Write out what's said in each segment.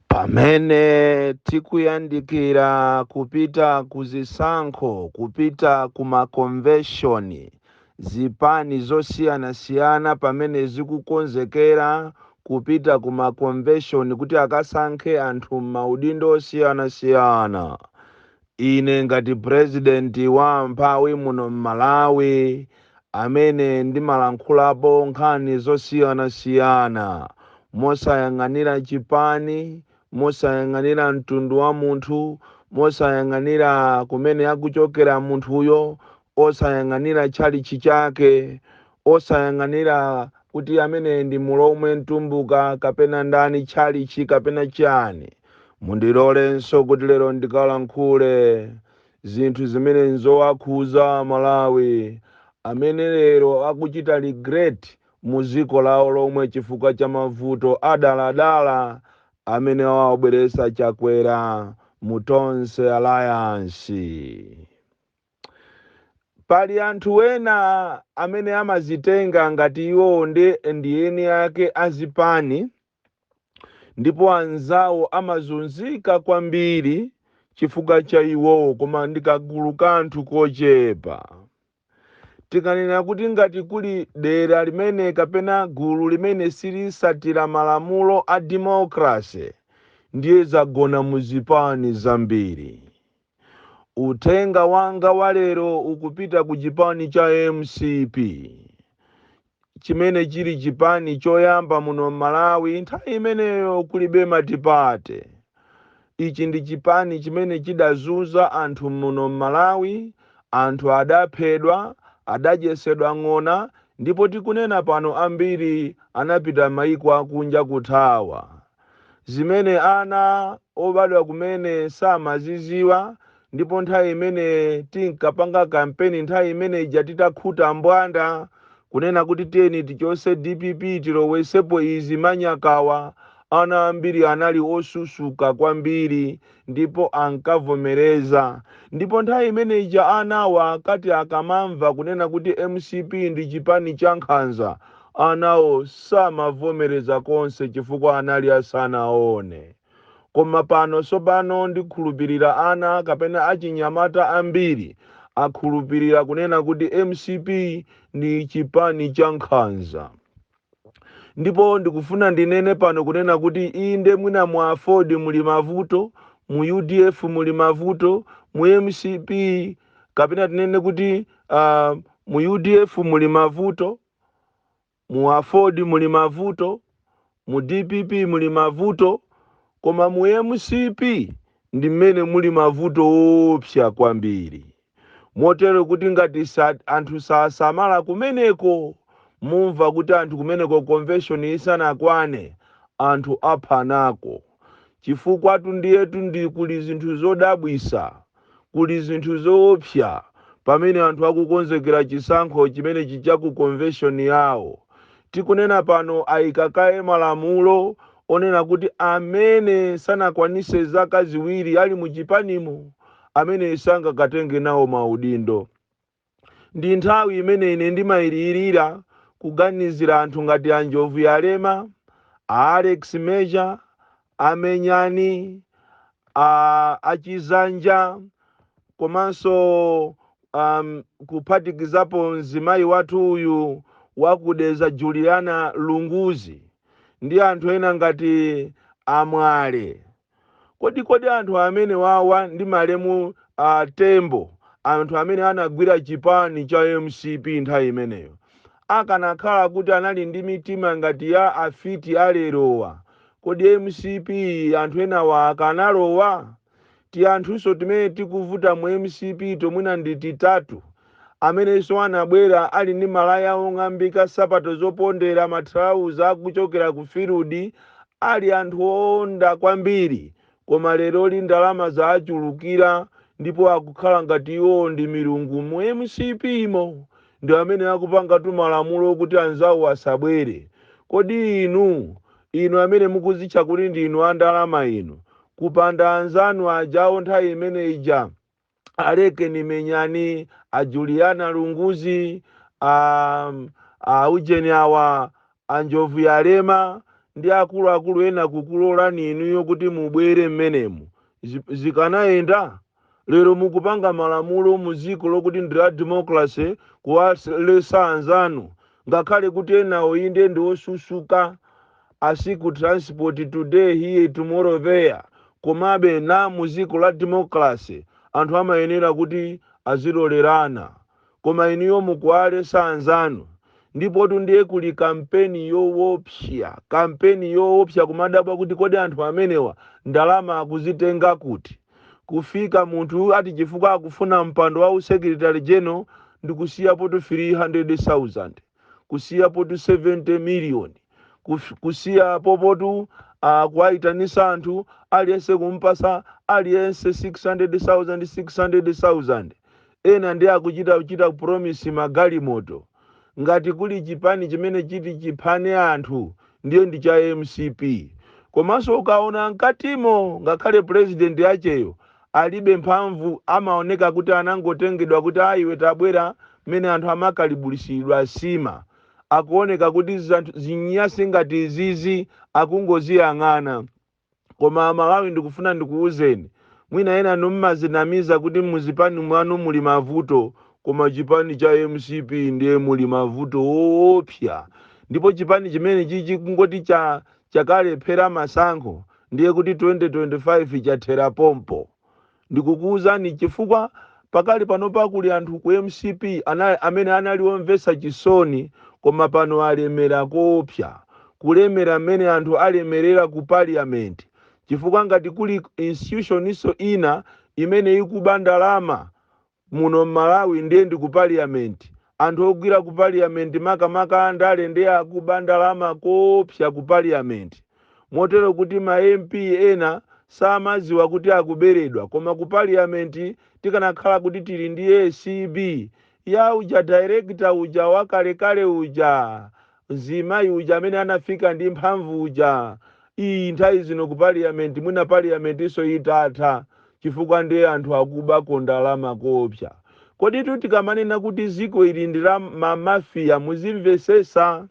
pamene tikuyandikira kupita ku zisankho kupita ku makonveshoni zipani zosiyanasiyana pamene zikukonzekera kupita ku makonveshoni kuti akasankhe anthu m'maudindo osiyanasiyana Ine ngati president wa amphawi muno m'Malawi amene ndimalankhulapo nkhani zosiyana siyana mosayang'anira chipani, mosayang'anira mtundu wa munthu, mosayang'anira kumene akuchokera munthuyo osayang'anira tchalitchi chake, osayang'anira kuti amene ndi mulomwe, mtumbuka, kapena ndani, tchalitchi, kapena chiyani. Mundilolenso kuti lero ndikalankhule zinthu zimene nzowakhuza a Malawi amene lero akuchita regret mu dziko lawo lomwe chifukwa cha mavuto a dala dala amene awabweretsa Chakwera mu Tonse Alliance. Pali anthu ena amene amazitenga ngati iwowo nde ndi eni ake a zipani ndipo anzawo amazunzika kwambiri chifukwa cha iwowo koma ndi kagulu ka anthu kochepa. Tikanena kuti ngati kuli dera limene kapena gulu limene silitsatira malamulo a democracy ndiye zagona mu zipani zambiri. Uthenga wanga wa lero ukupita ku chipani cha mcp chimene chili chipani choyamba muno m'Malawi nthawi imeneyo kulibe matipate. Ichi ndi chipani chimene chidazunza anthu muno m'Malawi, anthu adaphedwa, adadyesedwa ng'ona ndipo tikunena pano ambiri anapita maiko akunja kuthawa. zimene ana obadwa kumene samaziziwa ndipo nthawi imene tinkapanga kampeni nthawi imene ija titakhuta mbwanda kunena kuti tiyeni tichose dpp tilowesepo izi manyakawa ana ambiri anali osusuka kwambiri ndipo ankavomereza ndipo nthawi imene ija anawa akati akamamva kunena kuti mcp ndi chipani cha nkhanza anawo samavomereza konse chifukwa anali asanaone koma pano tsopano ndikhulupirira ana kapena achinyamata ambiri akhulupirira kunena kuti mcp ndi chipani cha nkhanza ndipo ndikufuna ndinene pano kunena kuti inde mwina mu aford muli mavuto mu udf muli mavuto mu mcp kapena tinene kuti uh, mu udf muli mavuto mu aford muli mavuto mu dpp muli mavuto koma mu mcp ndi mmene muli mavuto oopsa kwambiri Motero kuti ngati sa, anthu sasamala kumeneko mumva kuti anthu kumeneko convention isanakwane anthu aphanako. Chifukwatu ndiyetu ndi kuli zinthu zodabwisa, kuli zinthu zoopsa pamene anthu akukonzekera chisankho chimenechi cha ku convention yawo. Tikunena pano ayika kaye malamulo onena kuti amene sanakwanise zaka ziwiri ali mu chipanimo amene sangakatenge nawo maudindo. Ndi nthawi imene ine ndimalirira kuganizira anthu ngati a Njovuyalema, a Alex Major, a Menyani, a Chizanja komanso um, kuphatikizapo mzimayi wathu uyu wa ku Dedza Juliana Lunguzi ndi anthu ena ngati a Mwale kodi kodi anthu amenewawa ndi malemu a tembo anthu amene anagwira chipani cha mcp nthawi imeneyo akanakhala kuti anali ndi mitima ngati ya afiti a lerowa kodi mcp anthu enawa akanalowa tianthunso timene tikuvuta mu mcp tomwina ndi titatu amenenso anabwera ali ndi malaya ong'ambika, nsapato zopondera, mathalauza a kuchokera ku field, ali anthu oonda kwambiri, koma leroli ndalama zawachulukira ndipo akukhala ngati iwowo ndi milungu mu mcp mo, ndi amene akupanga timalamulo okuti anzawo asabwere. Kodi inu, inu amene mukuzitcha kuti ndinu a ndalama inu, kupanda anzanu ajawo nthawi imene ija, a lekeni menyani a juliana lunguzi a, a ujeni awa a njovuyalema ndi akuluakulu ena kukulolani inuyo kuti mubwere mmenemo Zi- zikanayenda lero mukupanga malamulo mu dziko lokuti ndi la democracy kuwalesa anzanu ngakhale kuti enawo inde ndi osusuka a secret transport today here tomorrow there komabe na muziko la democracy anthu amayenera kuti azilolerana koma inuyo mukuwalesa anzanu ndipotu ndiye kuli kampeni yowopsya kampeni yowopsya kumadabwa kuti kodi anthu amenewa ndalama akuzitenga kuti kufika munthu ati chifukwa akufuna mpando wa usekretary general ndikusiyapotu 300000 kusiya potu 70 miliyoni kuf- kusiya popotu uh, kuwayitanisa anthu aliyense kumpasa aliyense 600,000 600,000 ena ndiye akuchita kuchita promise magalimoto ngati kuli chipani chimene chiti chiphane anthu ndiye ndi cha mcp komanso ukaona mkatimo ngakhale president yacheyo alibe mphamvu amaoneka kuti anangotengedwa kuti a iwe tabwera mmene anthu amakalibulisidwa nsima akuoneka kuti zinyasi ngati izizi akungoziyang'ana koma a Malawi ndikufuna ndikuwuzeni mwina ena inu mmazinamiza kuti muzipani mwanu muli mavuto koma chipani cha mcp ndiye muli mavuto oopsa ndipo chipani chimene chichi kungoti cha chakalephera masankho ndiye kuti 2025 chathera pompo. Ndikukuuzani chifukwa pakali panopa kuli anthu ku mcp amene anali omvetsa chisoni koma pano alemera koopsa. Kulemera mmene anthu alemerera ku parliament chifukwa ngati kuli institutioninso ina imene ikuba ndalama Muno mmalawi ndiye ndi ku parliament. Anthu ogwira ku parliament makamaka andale ndiye akuba ndalama koopsa ku parliament. Motero kuti ma MP ena samadziwa kuti akuberedwa koma ku parliament tikanakhala kuti tili ndi acb ya uja director uja wakalekale uja! Mzimayi uja amene anafika ndi mphamvu uja, ii nthawi zino ku parliament mwina parliamentinso itatha chifukwa ndiye anthu akubako ndalama koopsa. Koditu tikamanena kuti dziko ili ndi la ma mafia muzimvetsetsa.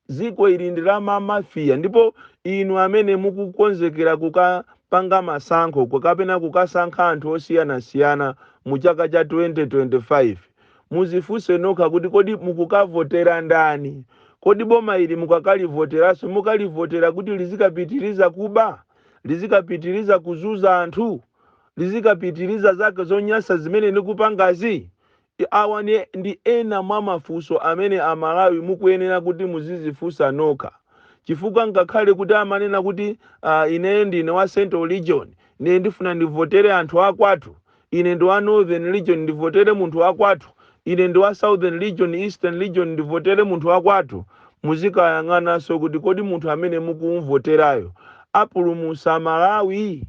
Dziko ili ndi la ma mafia ndipo inu amene mukukonzekera kukapanga masankho kapena kukasankha anthu osiyanasiyana mu chaka cha 2025, Muzifunse nokha kuti kodi mukukavotera ndani? Kodi boma ili mukakalivoteraso mukalivotera kuti lizikapitiriza kuba? Lizikapitiriza kuzuza anthu? Lizikapitiriza zake zonyasa zimene likupangazi? Awa ndi ena mwa mafunso amene a Malawi mukuyenera kuti muzizifunsa nokha chifukwa ngakhale kuti amanena kuti aah ine ndine wa central region ndiye ndifuna ndivotere anthu akwathu Ine ndi wa Northern region ndivotere munthu wakwathu, ine ndi wa Southern region, Eastern region ndivotere munthu wakwathu. Muzikayang'ananso kuti kodi munthu amene mukumuvoterayo apulumutsa Malawi?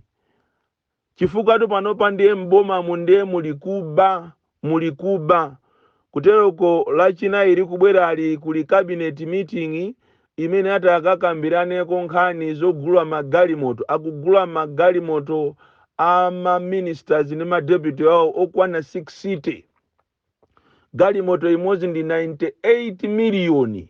Chifukwatu panopa ndiye m'bomamu ndiye muli kuba, muli kuba. Kuteroko Lachinayi likubwerali kuli cabinet meeting, imene ati akakambiraneko nkhani zogula magalimoto akugula magalimoto a ma ministers ndi ma deputy awo okwana 60 galimoto imodzi ndi 98 miliyoni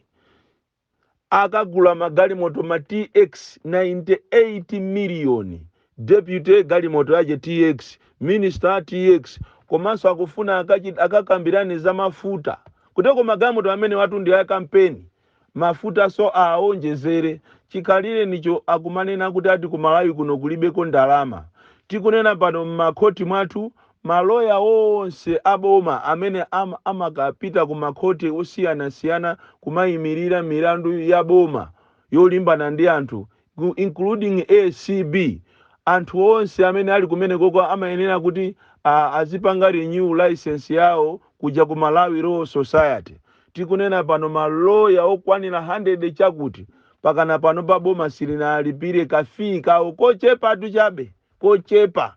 akagula magalimoto ma tx 98 miliyoni deputy galimoto yache tx minister tx komanso akufuna akachi- akakambirane za mafuta kuteko magalimoto amenewatu ndi a kampeni mafuta so aawonjezere chikhalirenicho akumanena kuti ati ku Malawi kuno kulibeko ndalama. Tikunena pano m'makhoti mwathu maloya onse a boma amene am, amakapita ku makhoti osiyanasiyana kumayimirira milandu ya boma yolimbana ndi anthu ku- including acb anthu onse amene ali kumenekoko amayenera kuti a- azipanga renew license yawo kuja ku malawi law society tikunena pano maloya okwanira 100 chakuti pakana panopa boma silinaalipire kafii kawo kochepatu chabe kochepa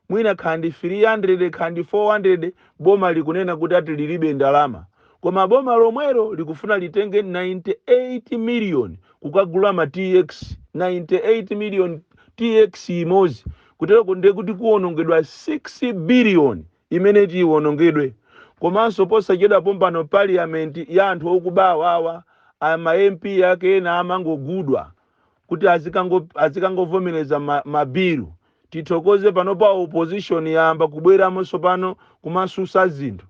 mwina kaya ndi 300 kaya ndi 400 boma likunena kuti ati lilibe ndalama koma boma lomwelo likufuna litenge 98 million kukagula ma tx 98 million tx imodzi kutereko ndiye kuti kuwonongedwa 6 billion imene iti iwonongedwe komanso posachedwa pompano parliament ya anthu okuba awawa a ma mp ake ena amangogudwa kuti azikango- azikangovomereza ma- mabilu tithokoze panopa opposition yayamba kubweramo tsopano kumasusa zinthu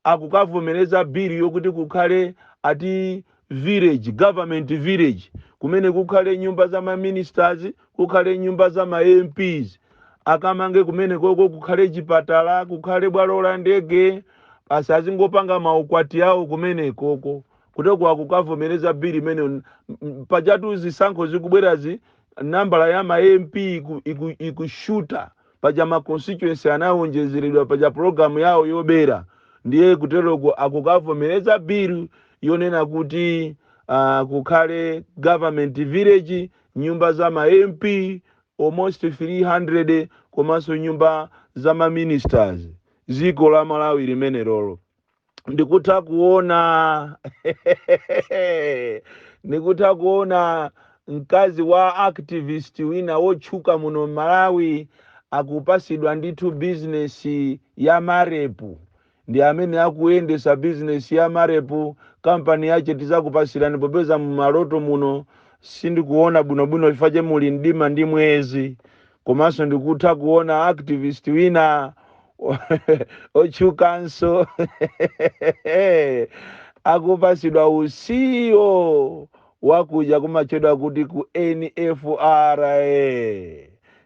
akukavomereza bilu yokuti kukhale ati village government village kumene kukhale nyumba za ma ministers kukhale nyumba za ma mps akamange kumenekoko kukhale chipatala kukhale bwalo la ndege asazingopanga maukwati awo kumenekoko kuteko akukavomereza bill imene pajatu zisankho zikubwerazi nambala ya ma mp iku- iku- ikushuta paja ma constituency anawonjezeredwa paja programu yawo yobera ndiye kuteroko akukavomereza bill yonena kuti uh, kukhale government village nyumba za ma mp almost 300 komanso nyumba za ma ministers dziko la malawi limenerolo ndikutha kuona ndikutha kuona mkazi wa activist wina wotchuka muno m'malawi akupasidwa ndithu bizinesi ya marepu ndi amene akuyendesa bizinesi ya marepu kampani yache tizakupasirani popeza mumaloto muno sindikuona bwinobwino chifukwa che muli mdima ndi mwezi komanso ndikutha kuona activist wina wotchukanso akupasidwa u CEO wakuja kumatchedwa kuti ku nfra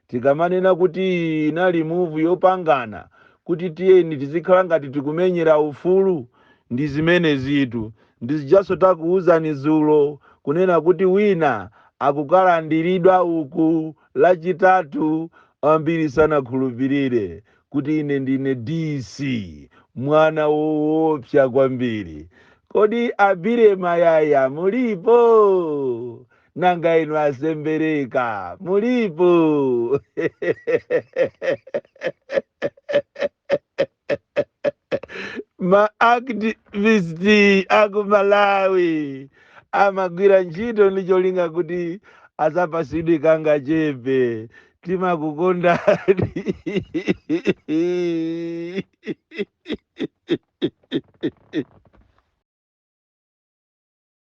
tikamanena kuti inali move yopangana kuti tiyeni tizikhala ngati tikumenyera ufulu ndi zimene izitu ndi zijaso takuwuzani zulo kunena kuti wina akukalandiridwa uku Lachitatu, ambiri sanakhulupirire kuti ine ndine DC, mwana woopsa kwambiri. Kodi a Billy Mayaya mulipo? Nanga inu a Sembereka mulipo? ma activist aku malawi amagwira ntchito ndi cholinga kuti azapasidwe kangachepe timakukondani